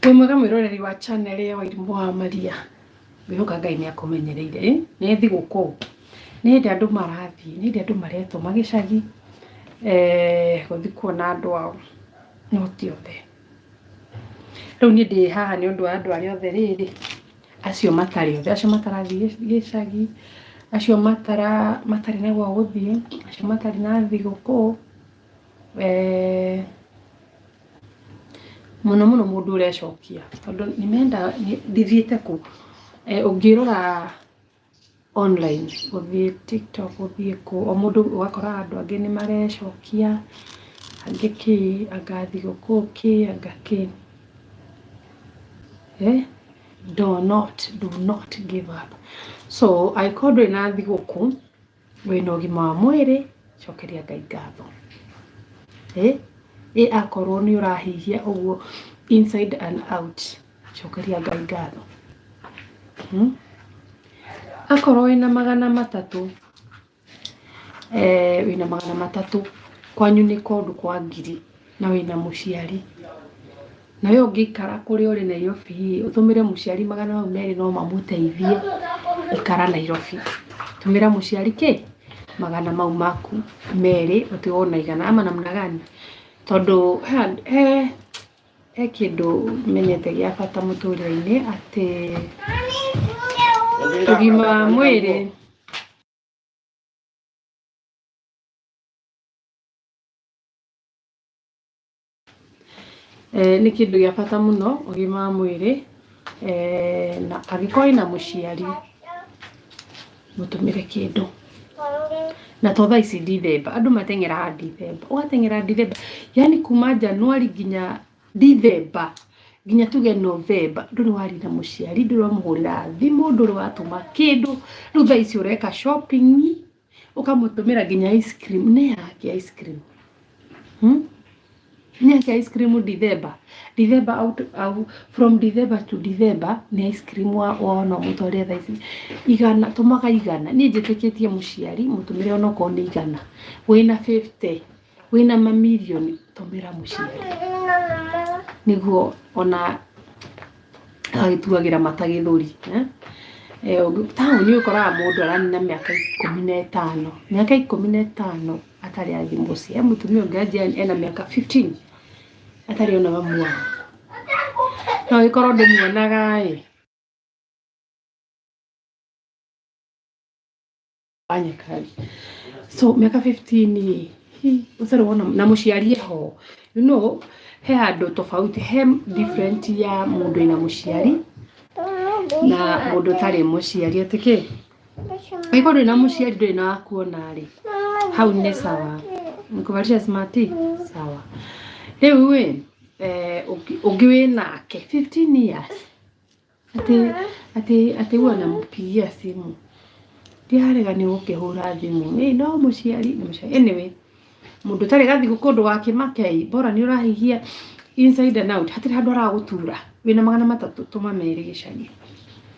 Wĩ mwega mwĩroreri wa channel ya Wairimũ wa Maria, ngwĩhoka Ngai nĩ akũmenyereire. Ĩ, nĩ thigũkũ, nĩ hĩndĩ andũ marathiĩ, nĩ hĩndĩ andũ maretũma gĩcagi eh, gũthiĩ kuona andũ ao, no ti othe. Rĩu niĩ ndĩ haha nĩ ũndũ wa andũ arĩa othe rĩrĩ, acio matarĩ othe, acio matarathiĩ gĩ- gĩcagi, acio matara matarĩ na gwa gũthiĩ, acio matarĩ na thigũkũ. Eh, mũno mũno mũndũ ũrecokia tondũ nĩmenda ndithiĩte kũ eh, ũngĩrora online ũthiĩ tiktok ũthiĩ kũ o mũndũ ũgakora andũ angĩ nĩ marecokia angĩ kĩ anga thigũkũ kĩ anga kĩ eh? do not do not give up so angĩkorwo ndũrĩ na thigũkũ wĩna ũgima wa mwĩrĩ cokeria ngai ngatho ĩ ĩ akorwo nĩ ũrahihia ũguo inside and out cokeria ngai ngatho hmm? akorwo wĩna magana matatũ eh, wĩna magana matatũ kwanyu nĩ kũndũ kwa ngiri na wĩna mũciari Na we ũngĩikara kũrĩa ũrĩ Nairobi rĩ, ũtũmĩre mũciari magana mau merĩ no mamũteithie gũikara Nairobi. Tũmĩra mũciari kĩ? Magana mau maku merĩ ũtigwo na igana ama namna gani? Tondũ he, he, he kĩndũ menyete gĩa bata mũtũrĩre-inĩ atĩ ũgima wa mwĩrĩ Eh, nĩ kĩndũ gĩa bata mũno ũgima wa mwĩrĩ eh, na angĩkorwo wĩna mũciari mũtũmĩre kĩndũ na to thaa ici ndithemba andũ mateng'eraga ndithemba ũgateng'era ndithemba yani kuma januari nginya ndithemba nginya tuge novemba ndũrĩ warira mũciari ndũrĩ wamũhũrĩra thimũ ndũrĩ watũma kĩndũ rĩu thaa ici ũreka shopping ukamutũmĩra nginya ice cream nĩ yake ice cream hmm? nĩ yake ice cream December December out, out, from December to December nĩ ice cream wa wona mũtwarĩa thaa ici igana tũmaga igana niĩ njĩtĩkĩtie mũciari mũtũmĩre onokorwo nĩ igana wĩna 50 Wĩna mamirioni tũmĩra mũciari nĩguo ona agagĩtuagĩra mata gĩthũri eh? Eh, ũngĩ- taũni ũkoraga mũndũ aranina mĩaka ikũmi na ĩtano mĩaka ikũmi na ĩtano atarĩ athiĩ mũciĩ he mũtumia ũngĩ anjia ena mĩaka 15 atarĩ ona mamuona no gĩkorwo ndĩmuonaga ĩ fanya kazi so miaka 15 hii utarĩ wona na mũciari ho you know he handũ tofauti he different ya mũndũ ĩna mũciari na mũndũ ũtarĩ mũciari atĩ kĩ angĩkorwo ndũrĩ na mũciari ndũrĩ na wakuona rĩ hau nĩ sawa nkubarisha smart sawa rĩu ĩ eh, ũngĩ- ũngĩ wĩ nake 15 years Ati, ati, ati huwa nampigia simu. Ndiarega ni gukihura thimu. Ni no muciari, ni muciari. Anyway, mundu tari gathigu kundu wa kimakei, bora ni urahihia inside and out. Hatiri handu aragutura. Wina magana matatu tuma meri gicagi.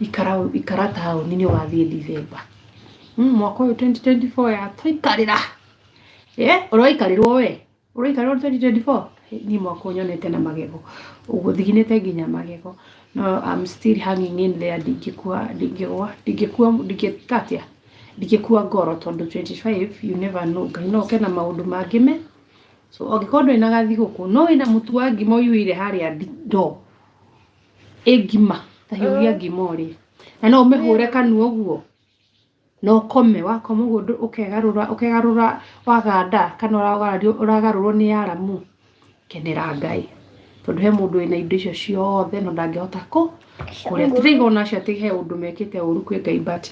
Ikara ikara taoni ni wathie December. Mm, mwaka uyu 2024 ya toikarira. Eh, uroikarirwo we. ũraikara ũrĩ 2024 niĩ mwaka ũyũ nyonete na magego ũgũthiginĩte nginya magego no I'm still hanging in there ndingĩkua ndingĩgwa ndingĩkua ndingĩka atĩa ndingĩkua ngoro tondũ 25 you never know ngai no oke na maũndũ mangĩ me so angĩkorwo ndũrĩ na gathigũkũ no wĩna mũtu wa ngima ũiyũire harĩa ndi- ndoo ĩ ngima tahiũria ngima ũrĩ na no ũmĩhũre kanua ũguo na ũkome wakoma ũguo ndũ- ũkegarũra ũkegarũra waganda kana ũragario ũragarũrwo nĩ aramu kenera ngai tondũ he mũndũ wĩna indo icio ciothe no ndangĩhota kũ kũrĩa tũraiga ona acio atĩ he ũndũ mekĩte ũru kwĩ ngai but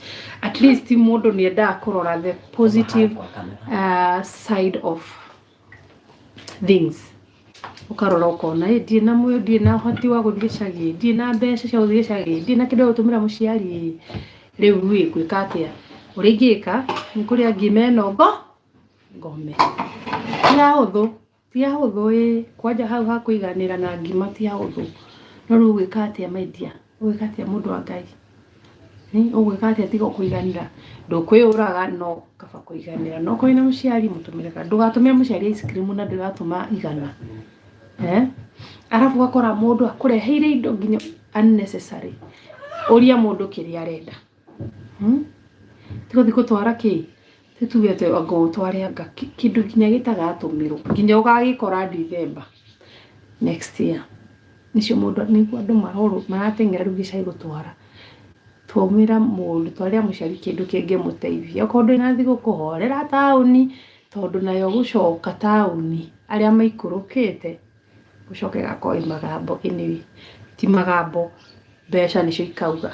at least mũndũ nĩ endaga kũrora the positive uh, side of things ũkarora ũkona ĩ ndirĩ na mwĩyũ ndirĩ na ũhoti wa gũthiĩ gĩcagi ĩ, ndirĩ na mbeca cia gũthiĩ gĩcagi ĩ, ndirĩ na kĩndũ gĩa gũtũmĩra mũciari ĩ, rĩu ĩ ngwĩka atĩa ũrĩa ingĩka nĩ kũrĩa ngiuma ĩno ngo ngome ti hahũthũ ti hahũthũ ĩ kwanja hau ha kũiganĩra na ngima ti hahũthũ no rĩu ũgwĩka atĩa my dear. Ũgwĩka atĩa mũndũ wa Ngai? Ũgwĩka atĩa tiga kũiganĩra? Ndũkwĩyũraga no kaba kũiganĩra. No ũkorwo wĩna mũciari mũtũmĩre kado. Ndũgatũmĩre mũciari ice cream na ndĩratũma igana. Eh? Arabu ũgakora mũndũ akũreheire indo nginya unnecessary. Ũria mũndũ kĩrĩa arenda. Hmm? Tũgathiĩ gũtwara kĩ? Tũtuge atĩ anga ũtware anga kĩ- kĩndũ nginya gĩtagatũmĩrwo nginya ũgagĩkora Ndithemba next year. Nĩcio mũndũ nĩguo andũ marorwo marateng'era rĩu gĩcagi gũtwara. Twaumĩra mũndũ twarĩra mũciari kĩndũ kĩngĩmũteithia. Okorwo ndũrĩ na thigũkũ horera taũni tondũ nayo gũcoka taũni arĩa maikũrũkĩte gũcoka ĩgakorwo ĩ magambo anyway. Ti magambo mbeca nĩcio ikauga.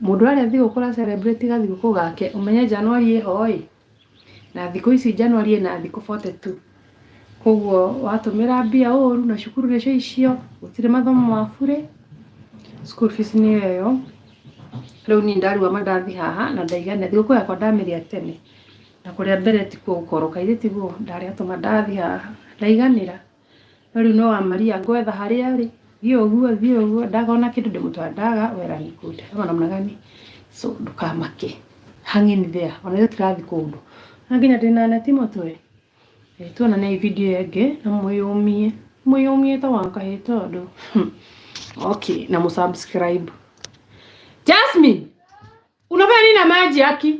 Mũndũ arĩa thigũkũ ra celebrate ga thigũkũ gake, ũmenye Januari ĩho-ĩ, na thikũ ici Januari ĩna thikũ forty two. Kuoguo watũmĩra mbia ũru na cukuru nĩcio icio, gũtirĩ mathomo ma burĩ, school fees nĩyo ĩyo. Rĩu niĩ ndarua ma ndathi haha na ndaigania, thigũkũ yakwa ndamĩrĩa tene, na kũrĩa mbere tikuo gũkorwo, kaĩ tiguo? Ndarĩa tũma ndathi haha, ndaiganĩra. No rĩu no wa Maria ngwetha harĩa arĩ, thiĩ ũguo thiĩ ũguo, ndakona kĩndũ ndĩmũtware, ndaga where he could, ama namna gani? So ndũkamake, hang in there, ona ithuĩ tũrathiĩ kũndũ na nginya ndĩna neti mũtwe. Eh, Tuonanei video ĩyo ĩngĩ na mwĩyũmie, mwĩyũmie ta wa kahĩ tondũ okay, na mũsubscribe. Jasmine, unafanya nini na maji haki?